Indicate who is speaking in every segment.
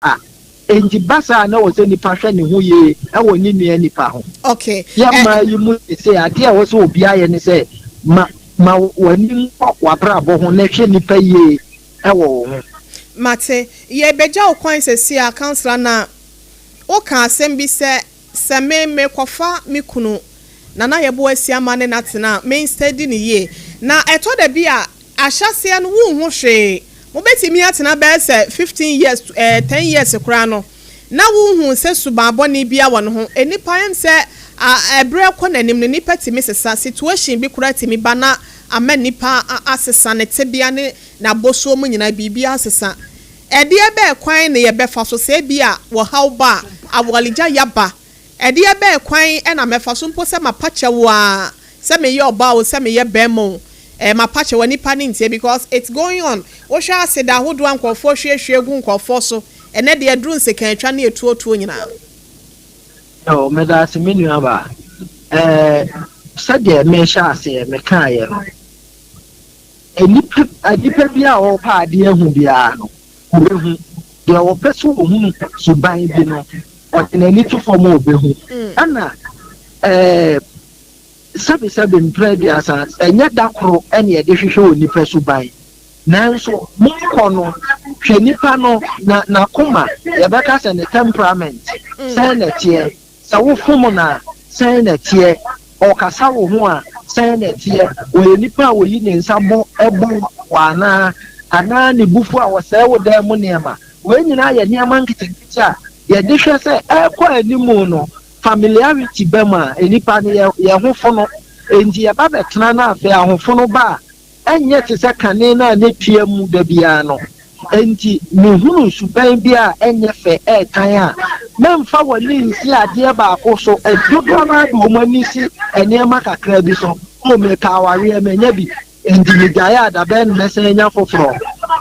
Speaker 1: a, enti ba saa a na ɛwɔ sɛ nipa hwɛ ne ho yie wɔ ne nua nipa ho. Okay. Yɛn eh, mmaa
Speaker 2: yi mu
Speaker 1: sese adeɛ a ɛwɔ sɛ obiara yɛ ne sɛ ma ma w'ani nkɔ w'abrabɔ ho na hwɛ nipa yie wɔ wo ho. Mate.
Speaker 2: Yɛbɛgya wo kwan sese a, councillor, na woka asɛm bi sɛ Sɛ me mekɔfa me kunu Nana Yeboah Asiamah ne no atena a, me nstɛdi no yie. Na ɛtɔ da bi a, ahyɛaseɛ no wonhu hwee. Mobɛtumi atena bɛyɛ sɛ fifteen years to ɛɛ ten years koraa no, na wonhu sɛ suban bɔne biara wɔ ne ho. Nnipa, yɛnim sɛ a ɛberɛ kɔ n'anim no, nnipa tumi sesa. Situation bi koraa tumi ba na ama nipa a asesa ne tebea ne n'abɔsoɔ mu nyinaa, biribiara asesa. Ɛdeɛ bɛɛ kwan ne yɛbɛfa so sɛ ebia wɔhaw ba a, awaregya yaba? Ɛdeɛ bɛɛ kwan na mɛfa so mpo sɛ mapa kyɛ wo aa, sɛ meyɛ ɔbaa o, sɛ meyɛ bɛɛma o, eh, mapa kyɛ wo a, nipa no ntie because it's going on. Wohwɛ aseda ahodoɔ a nkorɔfoɔ hwiehwie gu nkorɔfoɔ so ɛnɛ deɛ ɛduru nsekan-twa ne atuotuo nyinaa.
Speaker 1: Oh, medase me nua baa. Eh, sɛdeɛ mehyɛ aseɛ mekaaeɛ no, Nnipa nnipa biara a wɔpɛ adeɛ ahu biara no, ɔbɛhu, deɛ ɔpɛ sɛ ɔhunu suban bi no, ɔde n'ani to fam a ɔbɛhu. Ɛna eh, sɛbesɛbe mprɛ aduasa, ɛnyɛ da koro ɛne ɛde hwehwɛ onipa suban. Nanso monkɔ no, hwɛ nipa no, na n'akoma, yɛbɛka sɛ ne temperament, sɛn na ɛteɛ. Sɛ wofom no a, sɛn na ɛteɛ? Ɔkasa wo ho a, sɛn na ɛteɛ? Ɔyɛ nipa a oyi ne nsa bɔ bɔ wo anaa? Anaa ne bo fu a ɔsɛe wo dan mu nneɛma? Wei nyinaa yɛ nneɛma nketenkete a yɛde hwɛ sɛ ɛrekɔ anim no, familiarity ba mu a, nnipa no, yɛn ho fono. Enti yɛba bɛtena na afei ahofono ba a, ɛnyɛ te sɛ kane no a na etua mu da biara no. Enti mihuu suban bi a ɛnyɛ fɛ retan a memfa w'ani nsi adeɛ baako so. Dodoɔ no ara de wɔn ani si nneɛma kakraa bi so. O, mepɛ awareɛ, mannya bi, enti megyaee a dabɛn na mɛsan anya foforɔ?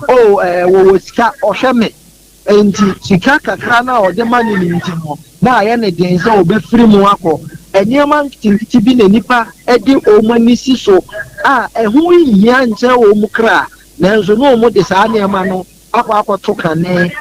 Speaker 1: O, ɛɛ, wɔwɔ sika, wɔhwɛ me, Enti sika kakra no a ɔde ma no no nti no, na ayɛ no den sɛ obefiri mu akɔ. Nneɛma nketenkete bi na nnipa de wɔn ani si so a ɛho nhia nkyɛre wɔn kra, nanso na wɔde saa nneɛma no akɔ akɔto kane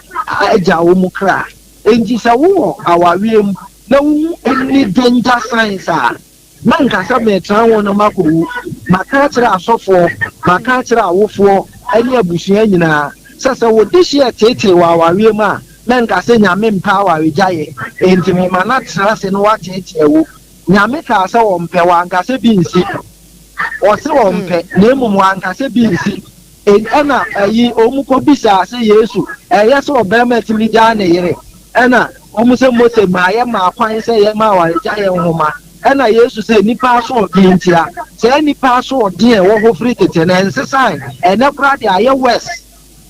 Speaker 1: agyaw wɔn kra. Enti sɛ wowɔ awareɛ mu na wuhu anidie ntasae saa a, Na nka sɛ meretena ho na makɔwu. Maka akyerɛ asɔfoɔ, maka akyerɛ awofoɔ ne abusua nyinaa sɛ, sɛ wo dehyeɛ teetee wɔ awareɛ mu a, na nka sɛ Nyame mpɛ awaregyaeɛ, enti mema no atena ase na wateetee wo. Nyame kaa sɛ Ɔmpɛ, Wanka sɛ bi nsi. Ɔse Ɔmpɛ, na mmom Wanka sɛ bi nsi. Ɛnna ayi wɔkɔbisaa sɛ, Yesu, ɛyɛ sɛ ɔbarima tumi gyaa ne yere? Ɛnna wɔn sɛ, Mose maa yɛmaa kwan sɛ yɛma awaregyaeɛ nwoma. Ɛnna Yesu sɛ, Nnipa asoɔden ntia. Saa nnipa asoɔden a ɛwɔ hɔ firi tete no, ɛnsesae. Ɛnnɛ koraa deɛ, ayɛ worse,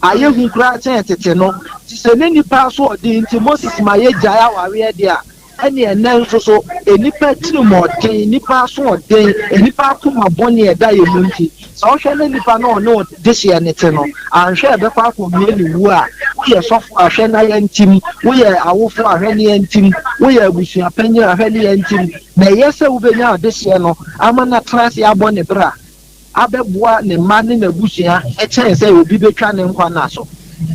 Speaker 1: ayɛ hu koraa kyɛn tete no. Te sɛ na nnipa asoɔden nti Moses ma yɛgyae awareɛ deɛ a, ɛne ɛnnɛ nso so, nnipa atirimuɔden, nnipa asoɔden, nnipa akoma bɔne a ɛda yɛn mu nti, sɛ wohwɛ na nipa no a ɔne wo dehyeɛ no te no, anhwɛ a ɛbɛkɔ akɔwie ne wuo a, woyɛ sɔfo a hwɛ na yɛntim, woyɛ awofo a hwɛ na yɛntim, woyɛ abusua panin a hwɛ na yɛntim, na ɛyɛ sɛ wobɛnya adehyeɛ no ama no atena ase abɔ ne bra. abɛboa ne mma ne n'abusua kyɛn sɛ obi betwa ne nkwa nna so.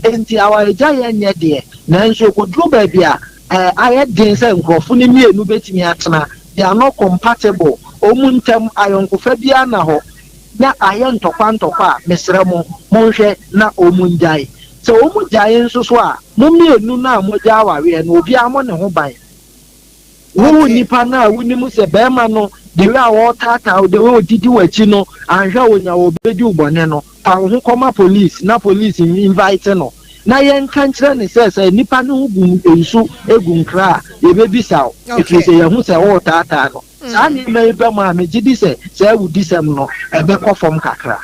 Speaker 1: Enti awaregyaeɛ nyɛ deɛ, nanso ɛkɔduru baabi a, ayɛ den sɛ nkurɔfo no mmienu betumi atena. They are not compatible. Wɔn ntam ayɔnkofa biara nna hɔ, na ayɛ ntɔkwa ntɔkwa a, mesrɛ mo, monhwɛ na wɔngyae. Sɛ wɔgyae nso so a, mo mmienu no a moagya awareɛ no, obiara mmɔ ne ho ban. Wo Okay. nipa no a wonim sɛ barima no de wei a ɔretaataa wo de wei a ɔdidi w'akyi no anhwɛ a ɔnya wɔ ɔbɛdi wo bɔne no, fa wo ho kɔma police na police in- invite no na yɛnka nkyerɛ ne sɛ sɛ nipa no ho gu nsu gu nkra a yɛbɛbisa wo ɛfiri Okay. sɛ yɛahu sɛ woretaataa no. Saa nneɛma yi ba mu a megye di sɛ saa awudisɛm no ɛbɛkɔ fam kakra.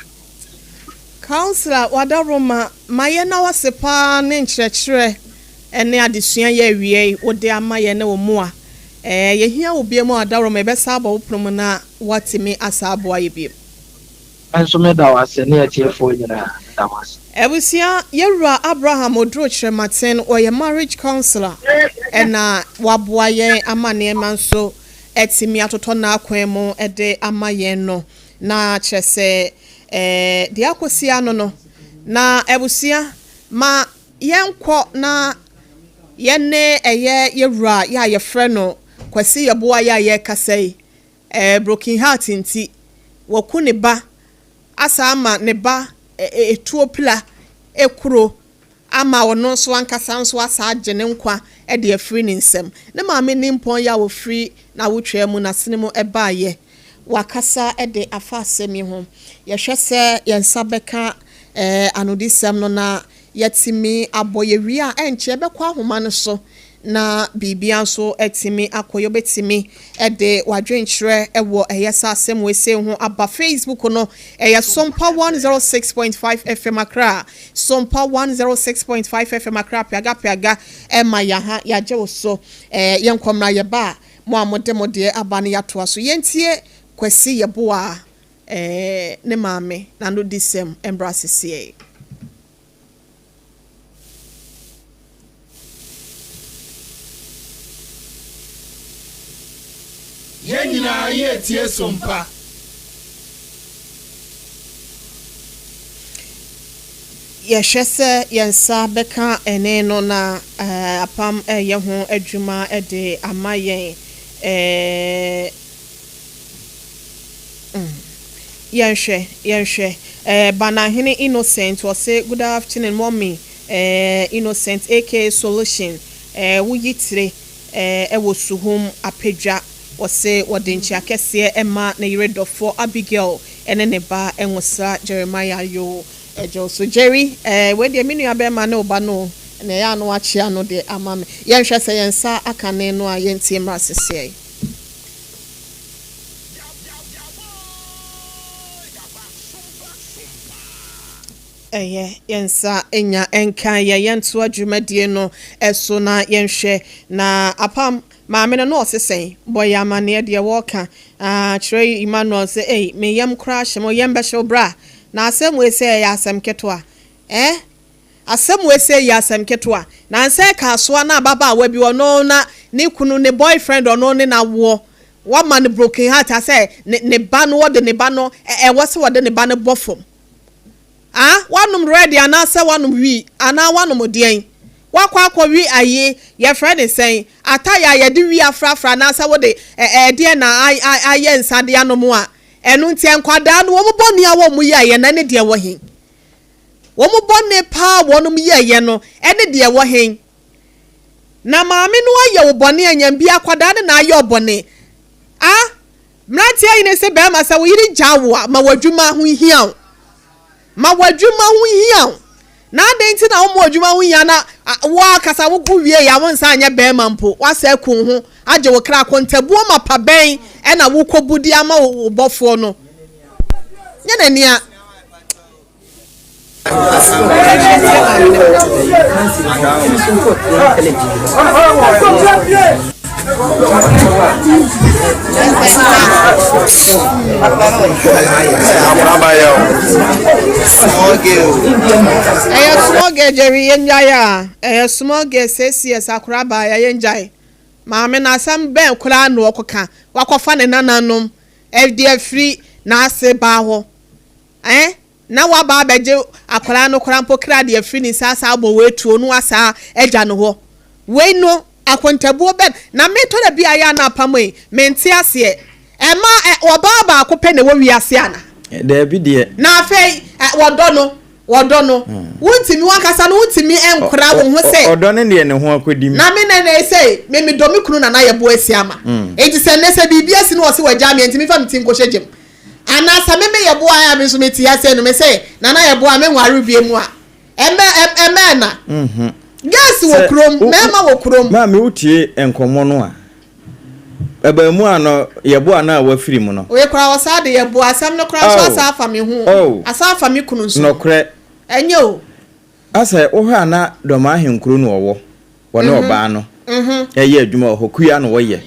Speaker 2: Councillor Wadaroma, mayɛ na wase paa ne nkyerɛkyerɛ. ne adesua yɛ awiei wode ama yɛn ne wo mmoa. Ɛɛ, yɛhia wo bio mu a dawuroma yɛbɛsa abɔ wo pono mu na woatumi asa aboa yɛ bio. Nso
Speaker 1: me da wo ase ne atiefoɔ nyinaa me da mo ase. Abusua, yɛ
Speaker 2: wura Abraham Oduro Kyerematen, ɔyɛ marriage counsellor na waboa yɛn ama nneɛma nso atumi atotɔ n'akwan mu de ama yɛn no, na kyerɛ sɛ ɛɛ, deɛ akɔsi ano no, na abusua, ma Yɛnkɔ na yɛne ɛyɛ yɛ wura yɛ a yɛfrɛ no Kwasi Yeboah yɛ a yɛrekasa yi, ɛɛ broken heart nti, waku ne ba asan ama ne ba tuo pila kuro ama ɔno nso ankasa nso asan agye ne nkwa de afiri ne nsam. Ne maame nimpɔn yɛ a ɔfiri n'awotwaa mu n'asene mu baeɛ. Wakasa de afa asɛm yi ho. Yɛhwɛ sɛ yɛn nsa bɛka ɛɛ anodisɛm no na Yɛatumi abɔ yɛn wie a, ɛnkyɛ yɛbɛkɔ ahoma no so na biribiara nso atumi akɔ yie. Wobɛtumi de w'adwenkyerɛ wɔ Ɛyɛ Saa asɛm weisei ho aba Facebook no, ɛyɛ Sompa 106.5 FM Accra, Sompa 106.5 FM Accra, Peaga Peaga ma yɛn ha, yɛagye wo so. Eh, yɛnkɔ mmra yɛba a, mo a mode mo deɛ aba no yɛatoa so. Yɛntie Kwasi Yeboah. Ɛɛ ne maame n'anodisɛm mbra sesei. Yɛn nyinaa
Speaker 3: yɛretie Sompa.
Speaker 2: Yɛhwɛ sɛ yɛn nsa bɛka ɛnne no na apam reyɛ ho adwuma de ama yɛn. Ɛɛ. Yɛnhwɛ, yɛnhwɛ, eh, Banahene Innocent ɔse good afternoon mummy eh, Innocent aka Solution eh, wo yitire eh, ɛwɔ suhum Apadwa ɔse wɔde nkyea kɛseɛ ɛma ne yere dɔfoɔ Abigail ɛne ne ba Nwosra Jeremiah yoo Ɛgye wo so Jerry eh, wei deɛ me nua bɛɛma ne wo ba no o Nea ɛyɛ a na wakyea no deɛ ama me Yɛnhwɛ sɛ yɛn nsa aka ne no a yɛntie mmra seseɛ. Ɛyɛ yɛn nsa nya nka yɛ yɛntoa dwumadie no so na yɛnhwɛ na apam maame no na ɔse sɛn bɔ yɛ amaneɛ deɛ wɔka ah kyerɛ Emmanuel sɛ ei me yam koraa hye mo yam bɛhyew bra na asɛm wei sɛ ɛyɛ asɛm ketewa eh Asɛm wei sɛ yɛ asɛm ketewa nansɛ ɛkaasoa na ababaawa bi ɔno na ne kunu ne boy friend ɔno ne no awoɔ wama no broken heart asɛ ne ne ba no ɔde ne ba no ɛwɔ sɛ ɔde ne ba no bɔ fam ah wanom red anaasɛ wanom wi anaa wanom deɛn wakɔ akɔ wi ayi yɛfrɛ ne sɛn atayɛ a yɛde wi afrafra anaasɛ wode ɛdeɛ na ayɛ nsa de anom a ɛno nti nkwadaa no wɔn bɔne a wɔn yɛ a yɛn nan ne deɛ wɔ he. wɔn bɔne pa a wɔnom yɛeɛ no ne deɛ ɛwɔ he? Na maame no ayɛ wo bɔne a nyam bi akwadaa ne na ayɛ ɔbɔne a mmeranteɛ yene se bɛɛma sɛ wo yere gya wo a ma w'adwuma ho nhia wo ma w'adwuma ho nhia wo na adɛn nti na woma adwuma ho hia na wo akasa wo ko wie ya wo nsa anyɛ bɛɛma mpo wasɛ ko ho agye wo kra akontabuo ma pa bɛn ɛna wokɔ budi ama wo bɔfoɔ no nyɛ n'ania Ɛyɛ small girl Jerry yɛn gyae a ɛyɛ small girl six years akwadaa baayɛ yɛn gyae maame no asɛm bɛn koraa na ɔkɔka wakɔfa ne nananom ɛde afiri n'ase baa hɔ. Ɛɛ na waba abɛgye akwadaa no koraa mpo kra de afiri ne nsa asan abɔ wɔ atuo no asaa agya no hɔ. Wei no akontabuo bɛn na me tɔ da bi a yɛ a na apam yi me nte aseɛ. Ɛma ɛ ɔbaa baako pɛ na ɛwɔ wiase ana? Daabi deɛ.
Speaker 4: Na afei ɛ
Speaker 2: wɔdɔ no wɔdɔ no wo ntumi wankasa no wo ntumi nkora wo ho sɛ. Ɔdɔ no deɛ ne ho akɔdi
Speaker 4: mu. Na me nɛ nɛ sei
Speaker 2: me medɔ me kunu nana yɛbo asi ama. Nti sɛ nɛ sɛ biribi asi no ɔse wagyaa me a ntumi mfa me ti nkɔhyɛ gya mu Ana sɛ me me yɛboa a me nso me te aseɛ no me se nana yɛboa me nware bie mu a ɛmɛ ɛmɛ na girls wɔ kurom mɛɛma wɔ kurom. Maa me wo tie
Speaker 4: nkɔmɔ no a ɛbaa mu a no yɛboa no a wafiri mu no. Wei koraa ɔsaa de
Speaker 2: yɛboa asɛm no koraa nso asaa afa me ho o asaa afa me kunu nso ɛnyɛ
Speaker 4: o.
Speaker 2: A Sɛ wohwɛ
Speaker 4: a na Dɔmaa Ahenkuro na ɔwɔ, wɔne ɔbaa no ɛyɛ adwuma wɔ hɔ, kua na wɔyɛ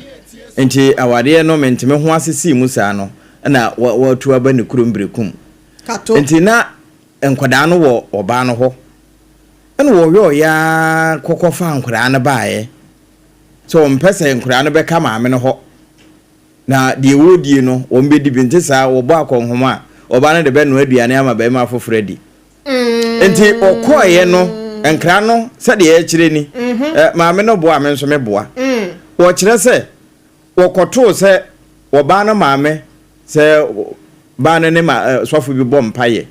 Speaker 4: nti awareɛ no menteme ho ase sii mu saa no na watu aba ne kurom Berekum nti na nkwadaa no wɔ ɔbaa no hɔ ɛna wɔyɔɔeɛ ara kɔkɔ faa nkwadaa no baeɛ sɛ wɔn mpɛ sɛ nkwadaa no bɛka maame no hɔ na deɛ wɔredie no wɔn bɛdi bi nte saa wɔbɔ akɔnhoma a ɔbaa no de bɛnoa aduane ama barima afoforɔ adi nti ɔkɔɔeɛ no nkra no sɛdeɛ yɛkyerɛ ni mm-hmm. maame no boa me nso meboa mm. wɔkyerɛ sɛ wɔkɔtoo sɛ wɔbaa no maame sɛ baa no ne ma sɔfo bi bɔ mpayɛ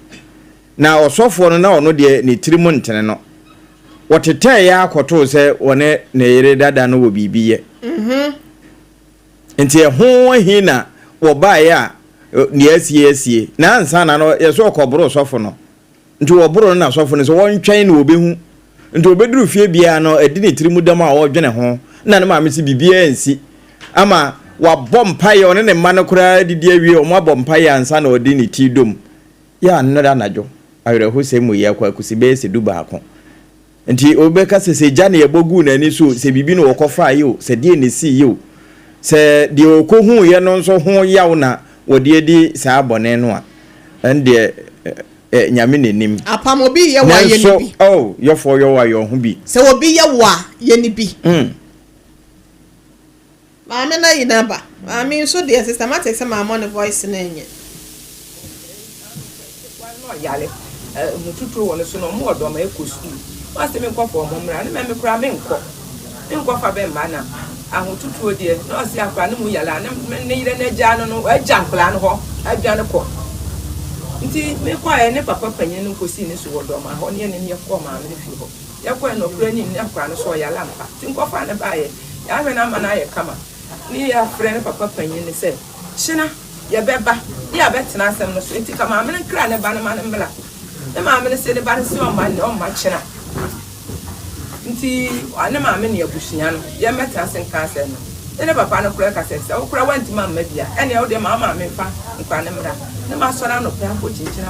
Speaker 4: na ɔsɔfoɔ no na ɔno deɛ ne tiri mu ntene no wɔtetɛɛ yɛ akɔtoo sɛ wɔne ne yere dada no wɔ biribi yɛ mm-hmm. Nti ɛho ahi na wɔbaeɛ a deɛ asie asie na ansa na no yɛsɛ wɔkɔboro sɔfo no nti wɔboro no na sɔfo no sɛ wɔntwɛn na wɔbɛhu nti ɔbɛduru fie biara no adi ne tiri mu dam a ɔredwene ho na ne maame sɛ biribiara nsi ama wabɔ mpaeɛ ɔne ne mma no koraa adidi awie wɔn abɔ mpaeɛ ansa na ɔde ne ti dom yɛ anɔda anadwo awerɛhosɛm mu yɛ akɔ akusi bɛyɛ sɛ du baako Nti obi bɛka sɛ, sɛ gya na yɛbɔ guu n'ani so o, sɛ biribi na wɔkɔfaeɛ o, sɛ deɛn na ɛsiiɛ o, sɛ deɛ ɔkɔhuuiɛ no nso ho yaw na wɔde adi saa bɔne no a, ɛndeɛ ɛ, Nyame na nim. Apam obi yɛ wo a, yɛ
Speaker 2: no bi. Nanso, oh, yɔfoɔ yɔ wo a,
Speaker 4: yɔ ho bi. Sɛ obi yɛ wo a,
Speaker 2: yɛ no bi. Mm. Maame no ayi n'aba. Maame nso deɛ systematic sɛ mammɔ ne voice no nyɛ. Ketewa
Speaker 5: no ɔyare a emu tutuo wɔ no so no ɔmo wɔ dɔm ɛkɔ sukuu ɔn sɛ menkɔ fa ɔmo mmra ne mɛ me koraa menkɔ menkɔ fa bɛ mma na ahotutuo deɛ na ɔse akora no mu yare a ne me ne yere no agyaa no no wagya nkoraa no hɔ adwane kɔ nti mekɔ ɛ ne papa panyin no nkɔ sii ne so wɔ dɔm ahɔ ne yɛne no yɛkɔ maame no fie hɔ Yɛkɔɛ no ɔkora nim ne akora no so ɔyare ampa nti nkɔfo a ne baayɛ yɛahwɛ no ama no ayɛ kama ne yɛafrɛ ne papa panyin no sɛ kyena yɛbɛba ne yɛabɛtena asɛm no so nti ka maame no nkra ne ba no ma no mmra ne maame no se ne ba no se ɔmma nnɛ ɔmma kyena nti ɔne maame ne abusua no yɛmmɛtena ase nka asɛm no ne ne papa no kora ka sɛ sɛ wokora wantimi amma bia ɛneɛ wodeɛ ma maame mfa nkora no mmra ne ma sɔre anɔpɛ akɔ kyinkyina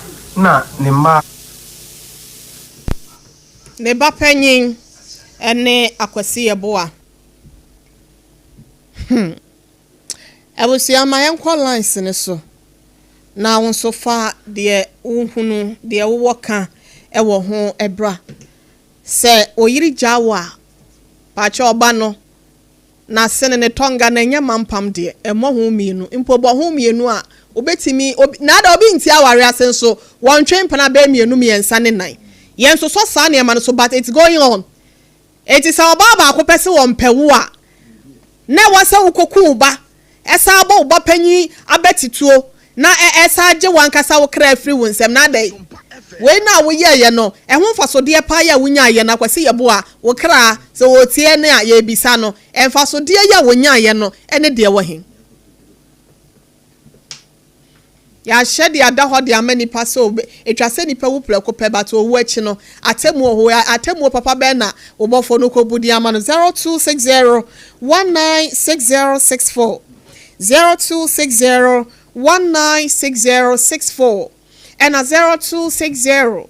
Speaker 6: na ne mma a.
Speaker 2: Ne ba panyin ne Akwasi Yeboah. Hmm. Abusua ma yɛnkɔ lines no so na wo nso fa deɛ wohunu, deɛ wowɔ ka wɔ ho bra. Sɛ oyere gyaa wo a, pakyɛ ɔba no Na sene ne tɔnga na ɛnyɛ mampam deɛ, ɛmmɔ ho mmienu, mpo bɔ ho mmienu a, wobɛtumi, obi, na ada obi nte aware ase nso, wɔntwe mpena bɛyɛ mmienu, mmiɛnsa ne nan. Yɛnsosɔ saa nneɛma no so, but it's going on. Enti sɛ ɔbaa baako pɛ se wɔmpɛ wo a, na ɛwɔ sɛ wokɔku wo ba, Ɛsan bɔ wo ba panyin abati tuo, na ɛsan gye w'ankasa wo kra firi wo nsam, na adɛn? Wei no a woyɛeɛ no, ɛho mfasodeɛ paa yi a wonyaeɛ no, Akwasi Yeboah, wo kra, sɛ ɔretie yɛn a, yɛrebisa no, mfasodeɛ yi a wɔnyaeɛ no, ɛne deɛ ɛwɔ he? Yɛahyɛ de ada hɔ de ama nnipa sɛ wɔbɛ, etwa sɛ nnipa wu prɛko pɛ, but owu akyi no, atemmuo wɔ hɔ. Ɛ, atemmuo papa bɛn na wo Bɔfoɔ no kɔbu de ama no? Zero two six zero one nine six zero six four, zero two six zero one nine six zero six four, ɛna zero two six zero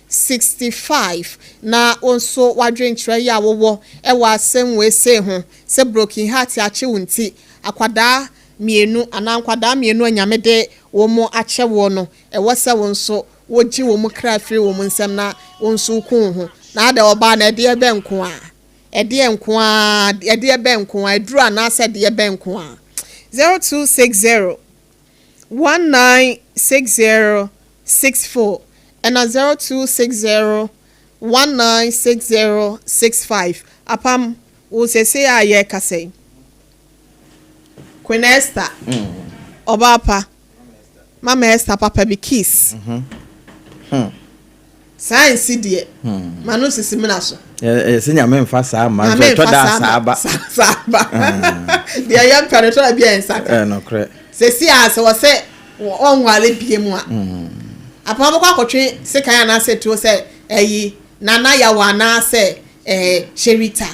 Speaker 2: Sixty five, na wo nso w'adwenkyerɛ yi a wowɔ wɔ asɛm wei sei ho, sɛ broken heart akye wo nti, akwadaa mmienu anaa nkwadaa mmienu a Nyame de wɔn akyɛ woɔ no, ɛwɔ sɛ wo nso wogye wɔn kra firi wɔn nsam na wo nso wo ku wo ho. Na adɛn ɔbaa no ɛdeɛ bɛn nko ara? Ɛdeɛ nko ara, ɛdeɛ bɛn nko ara? Aduro anaasɛ ɛdeɛ bɛn nko ara? Zero two six zero. 196064 na 0260196065 apam wo seesei a yɛrekasa yi. Queen Esther, ɔbaa pa, Mama Esther papa bi, Kiss. Saa nsi deɛ, ma no nsisi mena so.
Speaker 4: Ɛyɛ sɛ Nyame
Speaker 2: mfa
Speaker 4: saa mma nso ɛtɔ da a
Speaker 2: saa
Speaker 4: ba. Saa ba.
Speaker 2: Deɛ yɛ mpɛ no ɛtɔ da bi a ɛnsa ka. Ɛyɛ nokorɛ. Sɛsi
Speaker 4: a sɛ ɔsɛ
Speaker 2: ɔnwale bie mu a, apama bɛkɔ akɔtwe sekan anaasɛ tuo sɛ ɛyi Nana Yawa anaasɛ ɛɛ Sherita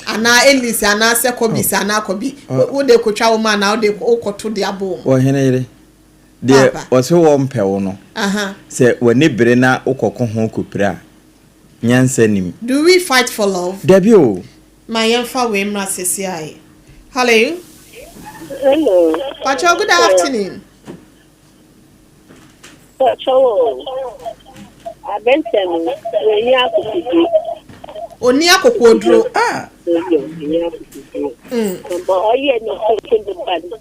Speaker 2: anaa Elise anaasɛ Kɔbisa anaa Kɔbi. Wode kɔtwa wo ma anaa wode wokɔto de abɔ wɔn. Ɔhene yere.
Speaker 4: Deɛ wɔse wɔmpɛ wo no, sɛ w'ani bere na wokɔko ho kɔpira a, nyansa nim. Do we fight for
Speaker 2: love? Dabi o.
Speaker 4: Ma yɛmfa
Speaker 2: wei mmra sesiae. Hallo? Hello.
Speaker 7: Pakyɛw, good
Speaker 2: afternoon.
Speaker 7: Pakyɛw o, abɛnkyɛ no, w'ani akokoduro. Ɔni
Speaker 2: akokoɔduro. Ah! Ɔni akokoduro.
Speaker 7: Ɔyɛ ne nkonkonnepa no.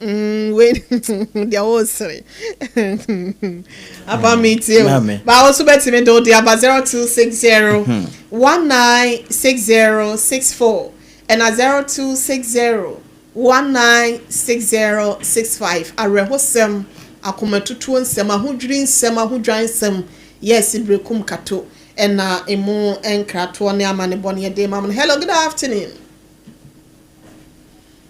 Speaker 2: Umm wei deɛ wo sere Aba me tie o Ba wo so bɛtumi de wo de aba 0260 196064 ɛna 0260 196065 Awerɛhosɛm, akomatutuo nsɛm, ahodwiri nsɛm, ahodwan nsɛm Yes Berekum Kato ɛna emu nkratoɔ ne amanebɔ no yɛde rema mo no Hello good afternoon.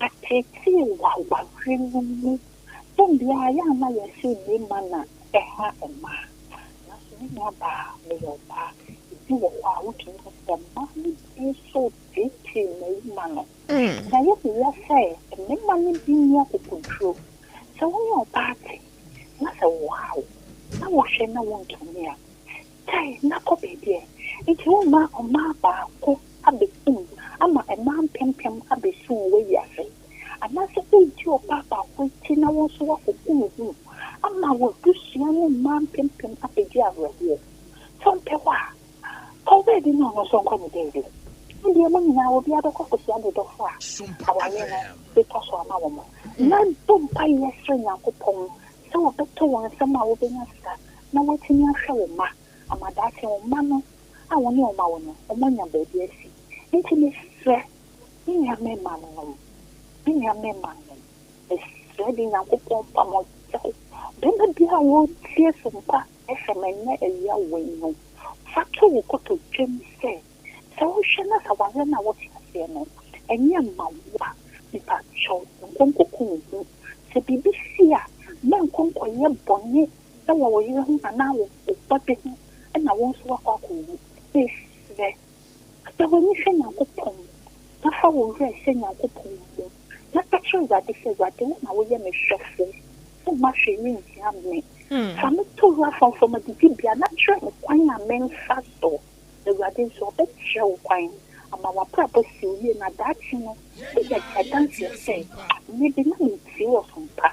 Speaker 7: Yɛteetee w'aware no mu dɛ mbrɛ ayɛ a nna yɛhyɛ yie ma na ɛha mbaa. Naaso me nuabaa, meyɛ ɔbaa. Bi wɔ hɔ a, wotum ka dɛ mbaa no bi so teetee mbarimba no. Na yehu ara sɛ mbarimba no bi nyi akokodur. Sɛ wo nye ɔbaa tse na sɛ wɔhaw na wɔhwɛ na wonntum a, Kae na kɔ baabi ɛ! Nti womma ɔmaa baako abɛkum ama mmaa mpempem abɛsu wɔ w'awiase? Anaasɛ wodi ɔbaa baako akyi na wo nso woakɔku wo ho ama w'abusua ne mmaa mpempem abɛdi awerɛhoɔ? Sɛ wompɛ hɔ a, fa wo baabi ne ɔno nso nkɔ ne baabi. Ne deɛ mo nyinaa obiara bɛkɔ akɔhyia ne dɔfoɔ a awareɛ no bɛtwa so ama wɔn. Na bɔ mpaeɛ srɛ Nyankopɔn sɛ ɔbɛtɔ wɔn nsam a wobɛnya sika na wɔatumi ahwɛ wo mma ama daakye wo mma no a wo ne wɔn awo no, wɔanya baabi asi. Enti mesrɛ, me nuammarimanom, me nuammarimanom, mesrɛ de Nyankopɔn mfa mo nkyɛ wo. Barima biara a ɔretie sumpa FM nnɛ awia wei no, fa to wo kotodwam sɛ, sɛ wohwɛ na sɛ awareɛ no a wote aseɛ no, ɛnyɛ mmawowa a, mepakyɛw, nkɔ nkɔku wo ho. Sɛ biribi si a, mɛnkɔ nkɔyɛ bɔne sɛ wɔwɔ yere ho anaa wɔbɔ de ho na wɔn nso wɔakɔ akɔwu. Mesrɛ sɛ w'ani hwɛ Nyankopɔn na fa wo werɛ hyɛ Nyankopɔn mu na ka kyerɛ Awurade sɛ, Awurade, wo na woyɛ me hwɛfo, womma hwee renhia me. Fa me to wura frɔmfrɔm adidibea na kyerɛ me kwan a memfa so. Awurade nso, ɔbɛkyerɛ wo kwan ama w'abrabɔ asi wo yie na daakye no, woanya adanseɛ sɛ, 'Mede na mentie ɔsom pa.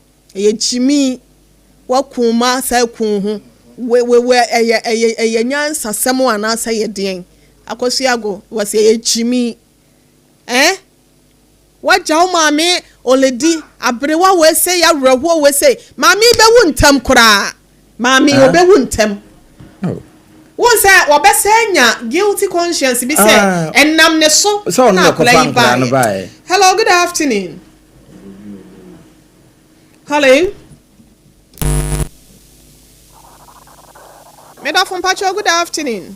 Speaker 2: Ɛyɛ gyimii, woaku wo mma saa aku wo ho, wewewɛ, ɛyɛ ɛyɛ ɛyɛ nyansasɛm o anaasɛ ɛyɛ deɛn? Akosua-Ago, wɔse ɛyɛ gyimii. Ɛɛ? Woagya wo maame Oledi, aberewa wei sei, awerɛhoɔ wei sei, maame yi bɛwu ntɛm koraa. Maame, wɔbɛwu ntɛm. Wohu sɛ wɔbɛsɛ nya guilty conscience bi sɛ ɛnam ne so na akwadaa yi baeɛ. Hello, good afternoon. Hello. Medafo mpakyɛw, good afternoon.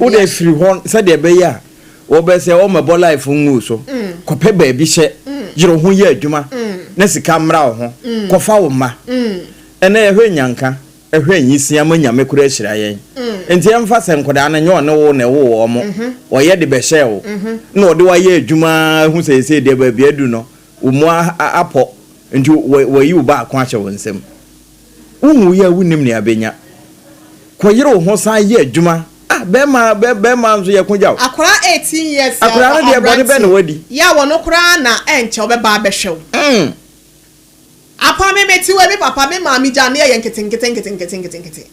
Speaker 4: Wode firi hɔ sɛdeɛ ɛbɛyɛ a wɔbɛ sɛ wɔmɛbɔ life ngu so mm. kɔpɛ baabi hyɛ mm. yere ho yɛ adwuma mm. na sika mmra wo ho kɔfa wo mma ɛnɛ yɛhwɛ nyanka ɛhwɛ nyisia ma nyame kora ahyira yɛn nti ɛmfa sɛ nkɔdaa no nyɛ ɔne wo na ɛwo wɔ mo mhm. ɔyɛ de bɛhyɛ wo mhm. na ɔde wayɛ adwuma hu sɛ ɛsɛ deɛ baabi adu no Wo mmoa apɔ, enti wɔayi wo baako ahyɛ wo nsam. Wunwui a wunnim nea abenya. Kɔyere wo ho san yɛ adwuma. Ah, barima, barima nso yɛ ko gya o. Akwadaa
Speaker 2: eighteen years a ɔwɔ
Speaker 4: aberante ya wɔ no koraa na
Speaker 2: ɛnkyɛ ɔbɛba abɛhwɛ wo. Apa me mete wei me papa me maame gyaa me yɛyɛ nketenkete nketenkete nketenkete.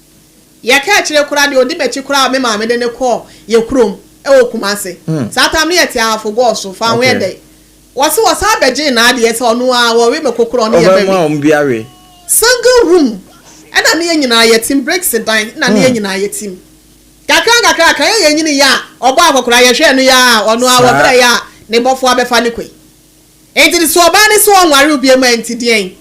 Speaker 2: Yɛka akyire koraa deɛ ɔdi m'akyi koraa a me maame de no kɔɔ yɛn kurom wɔ Kumasi. Saa tam no yɛte Ahafo Gɔɔ so, Faawho yɛ dɛn? Wɔse wɔsan bɛgyee n'adeɛ sɛ ɔno ara wɔwe me kokorɔ ɔne yɛ bɛwe. Ɔbɛma wɔn bi awe.
Speaker 4: Single room
Speaker 2: ɛna ne yɛ nyinaa yɛ tim bricks dan na ne yɛ nyinaa yɛ tim kakra nkakra kan yɛ yɛ nyini yɛ a ɔbɔ akɔkora yɛ hwɛɛ no yɛ a ɔno ara wɔ berɛ yɛ a ne bɔfoɔ abɛfa no kɔi ɛnti so ɔbaa ne so ɔnware obiam a ɛnti deɛn.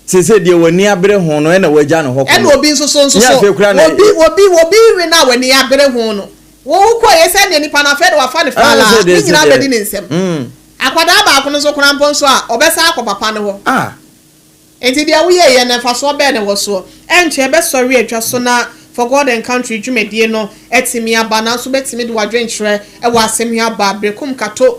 Speaker 2: Seesei deɛ
Speaker 4: w'ani abere ho no, ɛna woagya no hɔ kɔ no. Ɛna obi nso so, nso so,
Speaker 2: obi, obi, obi we no a w'ani abere ho no, wo, wokɔeɛ sɛ neɛ nipa no afɛe no, wafa no faa, ne nyinaa bɛdi ne nsam. Akwadaa baako no nso koraa mpo nso a, ɔbɛsan akɔ papa no hɔ. Enti deɛ woyɛeɛ no, mfasoɔ bɛn na ɛwɔ soɔ? Ɛnkyɛ ɛbɛsɔre atwa so na For God and Country dwumadie no atumi aba, nanso wobɛtumi de w'adwenkyerɛ wɔ asɛm yi ho aba berɛ, kumkato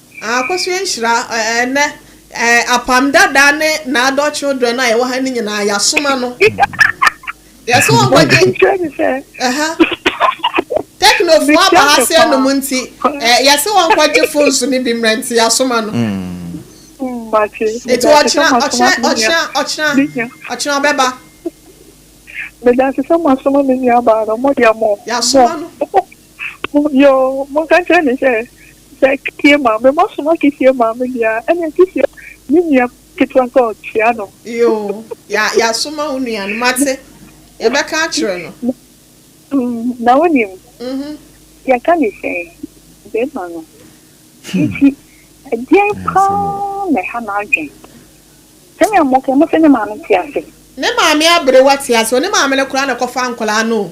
Speaker 7: Akosua nhyira
Speaker 2: ɛnɛ apam dada ne n'adult children a yɛwɔ ha no nyinaa yɛasom ano yɛsɛ wɔn kɔgye teknofo aba ha sɛ nom nti yɛsɛ wɔn kɔgye phones no bi mmerɛ nti yɛasom ano nti ɔkyena ɔkyena ɔkyena ɔkyena ɔkyena ɔbɛba.
Speaker 7: Meda se sɛ mo asoma me nua baa no mo deɛ mo. Yasoma no.
Speaker 2: Yoo,
Speaker 7: monka nkyerɛ no sɛ, sɛ Kefie maame, moasoma Kefie maame deɛ a, ɛnneɛ Kefie, ne nua ketewa sɛ ɔkyea no. Yoo,
Speaker 2: yɛ, yɛasoma wo nua no, moate? Yɛbɛka akyerɛ no.
Speaker 7: Na wonim, yɛka no sɛn? Bɛrima no, enti ɛdeɛn paa na ɛha n'adwen? Sɛnea moka yi, mose ne maame te ase? Ne maame
Speaker 2: aberewa te ase o, ne maame no koraa na ɛkɔfaa nkwadaa no o.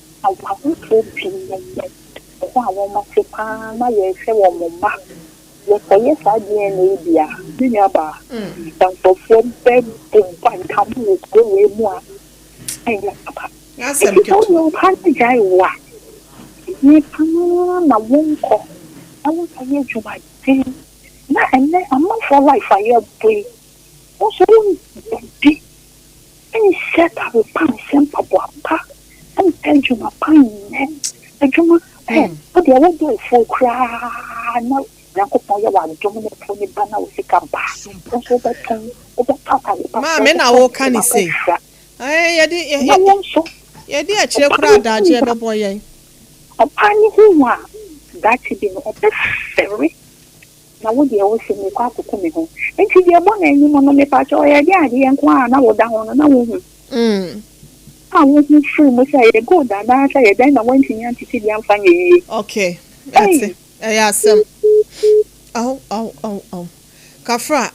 Speaker 7: Awarefoɔ pii na nnɛ, ɛda a wɔn ase pa ara na yɛrehwɛ wɔn mma. Yɛkɔyɛ saa DNA yi deɛ a, me nuabaa, nkurɔfoɔ bɛbu ba nka mo wɔ kuro wei mu a, ɛnyɛ papa. Enti sɛ woyɛ
Speaker 2: wo paa na gyae
Speaker 7: wo a, yie pa ara na wonkɔ na wonkɔyɛ adwumaden. Na ɛnnɛ amanfoɔ life a yɛbɔ yi, Wo nso wo nni nhyɛ da mpa nhyɛ mpaboa pa mpa adwuma pa nyɛ adwuma ɛ wo deɛ wo bo afuo koraa na nyankopɔn yɛ w'adom ne po ne ba na wo sika ba wo nso wobɛtɔn wobɛtɔ atade pa maame na woka
Speaker 2: ne sei ɛɛ yɛde yɛ wo nso yɛde akyire koraa adagye ɛbɛbɔ yɛn ɔbaa
Speaker 7: ne ho hu a daakye bi no ɔbɛfɛre Na wo deɛ wo se merekɔ akoku me ho nti deɛ bɔ n'anim no mepakyɛw ɔyɛ deɛ adeɛ nko a na woda ho no na wohu a wohu firi mu sɛ ɛyɛ gold anaa sɛ ɛyɛ dɛn na woantumi antete bi amfa nyɛ yie. Okay mate
Speaker 2: ɛyɛ asɛm. Aw aw aw aw kafra.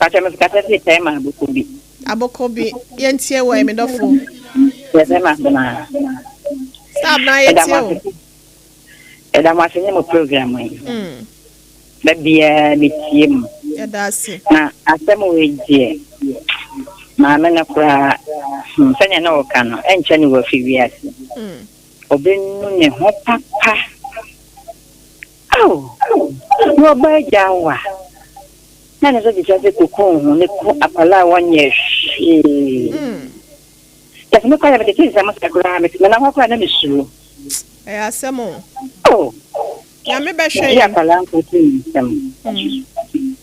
Speaker 2: Pakyɛ me
Speaker 8: kasa si pɛɛ ma aboko bi. Aboko
Speaker 2: bi yɛn tie wɔ yɛ me dɔfo. Yɛ pɛɛ ma
Speaker 8: abena. Sɛ
Speaker 2: abena yɛ tie o.
Speaker 8: Ɛda mo ase nye mo program yi. Mm. Da biara me tie mu. Ɛda ase.
Speaker 2: Na asɛm wɔ
Speaker 8: edeɛ. Maame no koraa hmm, sɛnea na ɔka no ɛnkyɛ ne wafi wiase. Mm. Ɔbɛnu ne ho papa. Ao! Na ɔba agyaw wo a, na ne nsa tumi hyɛ ase kokum wo ho, ne ku akwadaa a wɔnyɛ hwee. Kyɛ sɛ mekɔeɛ a, metete nsɛm ase koraa, mete me nan hɔ koraa na mesuro. Ɛyɛ asɛm
Speaker 2: o. Oh! Nyame bɛhwɛ yɛn. Ɛyɛ akwadaa nko ti
Speaker 8: nsɛm.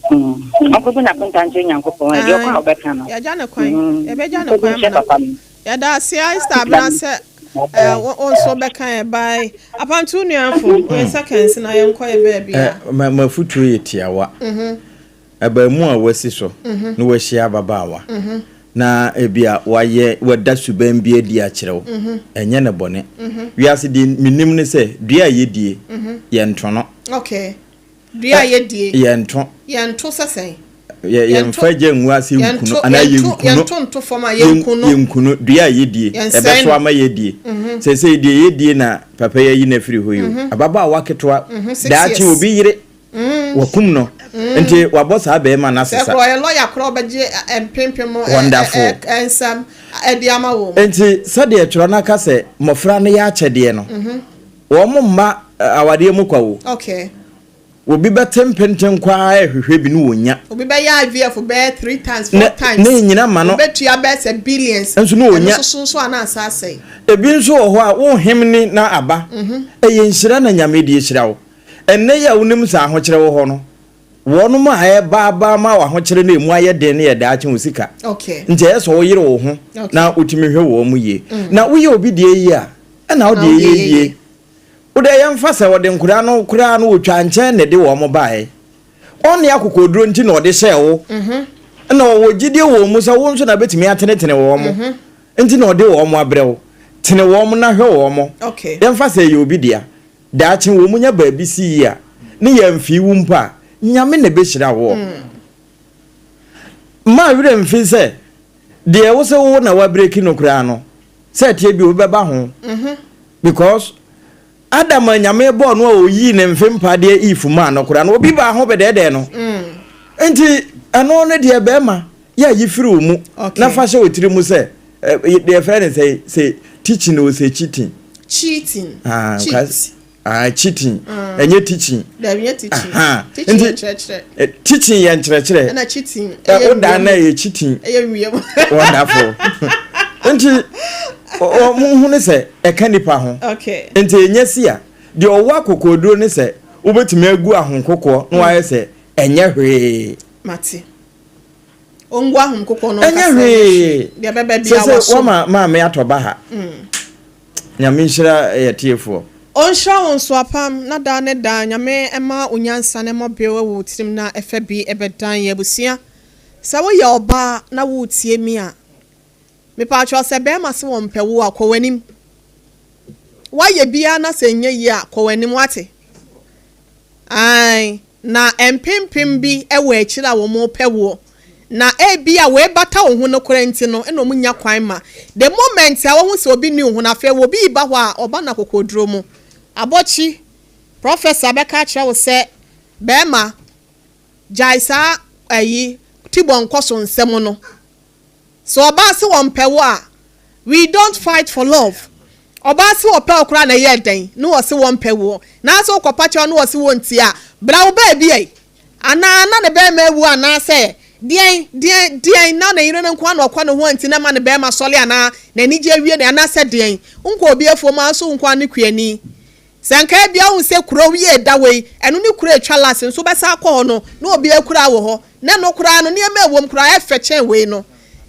Speaker 8: Ɔnkɔbu n'akonta nkyerɛ Nyankopɔn, ɛdeɛ ɔkɔ a ɔbɛka no. Yɛagya no
Speaker 2: kwan, yɛbɛgya no kwan ama no. Yɛda ase ae star bena sɛ eh, wo wo nso bɛka yɛ bye. Apantu nuafo, oyɛ seconds na yɛnkɔ yɛ baabi a. Eh, m'afutuo yɛ
Speaker 4: tiawa. Abaamu a wasi so na wahyia ababaawa na ebia wayɛ wada suban bi adi akyerɛ wo, ɛnyɛ no bɔne. Wiase deɛ menim ne sɛ dua a yɛdie, yɛntono. Okay.
Speaker 2: Dua a yɛdie. Ɛ, yɛnto. Yɛnto sɛ sɛn? Yɛ, yɛmfa
Speaker 4: Yɛnto, gya ngu ase nku no, yɛnto, anaa yɛnto, yɛnku no. yɛnto nto fam a, Yɛn,
Speaker 2: yɛnku no. yɛnku no. Dua a
Speaker 4: yɛdie, Yɛnsɛe ɛbɛso no. ama yɛadie. Seesei deɛ yɛdie na papa yi ayi no afiri hɔ yi o. Ababaawa ketewa, six daakye years. obi yere, wɔakum no, nti wɔabɔ saa barima no Sɛ asesa. korɔ ɔyɛ lɔya korɔ a, ɔbɛgye
Speaker 2: ɛ, ɛ, mpempem ɛ, ɛ, Wonderful. ɛ, ɛ,
Speaker 4: nsɛm
Speaker 2: ɛ, de ama wo. Enti sɛdeɛ twerɛ
Speaker 4: no aka sɛ mmɔfra no yɛ akyɛdeɛ no, Wɔmma awadeɛ mu kwa o. Okay.
Speaker 2: Obi bɛte
Speaker 4: mpenten kɔ ara ɛhwehwɛ bi ne ɔnya. Obi bɛyɛ IVF
Speaker 2: bɛyɛ three times, four times. Ne nyina ma no. Ɔbɛtua
Speaker 4: bɛyɛ sɛ
Speaker 2: billions. Nso ne ɔnya. Ɛno soso nso
Speaker 4: a na asa asɛe.
Speaker 2: Ebi nso wɔ hɔ
Speaker 4: a wo hem ne na aba. Ɛyɛ nhyira na Nyame de ahyira wo. Ɛnnɛ yi a wonim sɛ ahokyerɛ wɔ hɔ no, Wɔn a ɛreba aba ama w'ahokyere na emu ayɛ den no yɛ daakye ho sika. Nti ɛyɛ sɛ
Speaker 2: woyere wo
Speaker 4: ho na wotumi hwɛ wɔn mu yie. Na woyɛ obi deɛ yie a, ɛna wo deɛ yɛ yie. Wo deɛ yɛmfa sɛ ɔde nkwadaa no koraa no ɔtwaa nkyɛn na ɛde wɔn baeɛ. Ɔnne akokoɔduro nti na ɔde hyɛɛ wo. Na ɔwɔ gyidie wɔ wɔn mu sɛ wo nso na bɛtumi atenetene wɔn. Nti na ɔde wɔn abrɛ wo. Tene wɔn na hwɛ wɔn. Yɛmfa sɛ ɛyɛ obi
Speaker 2: dea.
Speaker 4: Daakye wɔ mu nya baabi si yie a, ne yɛ mfii wo mpo a, Nyame na ɛbɛhyira woɔ. Mma wo werɛ mfi sɛ, deɛ ɛwɔ sɛ wo na woabreki no koraa no, sɛ ɛteɛ bi wobɛba ho. Because Adam a Nyame bɔɔ no a ɔyii ne mfe mpa deɛ Eve maa no koraa no, obi baa ho bɛdɛɛdɛɛ no. Nti ɛno no deɛ bɛɛma Yeah, yi firi wo mu okay. na fa hyɛ wo tiri mu sɛ eh, deɛ fɛ ne sɛ sɛ teaching o sɛ cheating. Cheating. Ah, cheat. Ah, cheating. Mm. Ɛnyɛ teaching. Dɛbi yɛ teaching. Aha.
Speaker 2: Teaching yɛ nkyerɛkyerɛ. Eh, teaching
Speaker 4: yɛ nkyerɛkyerɛ. Ɛna cheating. Eh, ɛyɛ
Speaker 2: wia mu. Ɛna ɛyɛ
Speaker 4: cheating. Ɛyɛ wia mu. Wonderful. Nti wɔn ho ne sɛ ɛka nipa ho. Okay. Nti ɛnyɛ
Speaker 2: si a
Speaker 4: deɛ ɔwɔ akokoduro ne sɛ wobɛtumi agu ahokokoɔ na wayɛ sɛ ɛnyɛ
Speaker 2: hwee.
Speaker 4: Mate.
Speaker 2: ɛnyɛ hwee
Speaker 4: sɛ
Speaker 2: sɛ wama maame
Speaker 4: atɔ
Speaker 2: ba ha
Speaker 4: nyame nhyira yɛ tiefoɔ Ɔnhyira wo nso
Speaker 2: apam na daa ne daa Nyame mma wo nyansa ne mmɔbew wɔ wo tirim na ɛfa bi bɛdan yɛn abusua Sɛ woyɛ ɔbaa na woretie me a, Mepaatwɔ sɛ bɛɛma se wɔn pɛ wo a kɔ w'anim wayɛ biaa na sɛ nyɛ yie a kɔ w'anim wate ae na mpempem bi wɔ akyire a wɔn pɛ woɔ na ebia wei bata wo ho nokorɛ nti no na wɔn nya kwan ma the moment a wɔhu sɛ obi nni wo ho no afei wɔ bi reba hɔ a ɔba no akokoɔduro mu abɔkyi professor bɛka akyerɛ wo sɛ bɛɛma gyae saa ayi tibɔ nkɔso nsɛm no. Sɛ ɔbaa se wɔmpɛ wo a, we don't fight for love. Ɔbaa se ɔpɛ wo koraa na ɛyɛɛ dɛn? Ne wɔse wɔmpɛ woɔ. Nanso wokɔpa kyɛw ne wɔse wɔntie a, bra wo baabi ai. Anaa na ne barima awu anaasɛ deɛn deɛn deɛn na ne yere no nko ara na ɔkɔ ne ho nti na ɛma ne barima sɔre anaa n'anigye awie no anaasɛ deɛn. Wonkɔ obi afuom a nso wonkɔ anekuani. Sɛ anka ebia wohu sɛ kurow yi a ɛda hɔ yi, ɛno ne kurow a etwa last nso wobɛsan akɔ hɔ no, na obi akuraa wɔ hɔ, na ɛno koraa no, nneɛma a ɛwom koraa yɛ fɛ kyɛn wei no.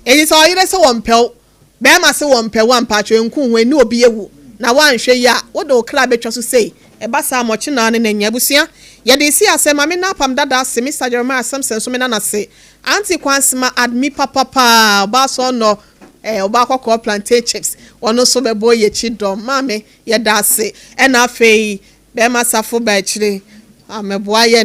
Speaker 2: Enti sɛ ɔyere se ɔmpɛ wo, barima se ɔmpɛ wo a, mpakyɛw nku wo ho nni obi awu, na woanhwɛ yie a, wode wo kra bɛtwa so sei. Ɛba saa a, ma ɔkye naa ne na nya. Abusua, yɛde resi ase, ma menna apam dada ase, Mister Jeremiah Simpson nso menna no ase, Auntie Kwansema, Admi papa paa, ɔbaa sɔɔnɔ, ɛɛ, ɔbaa kɔkɔɔ plantain chips, ɔno nso bɛbɔ yɛn akyi dɔm, Maame, Yɛda ase ɛna afei bɛɛma safo bɛ akyire a mɛboa yɛ.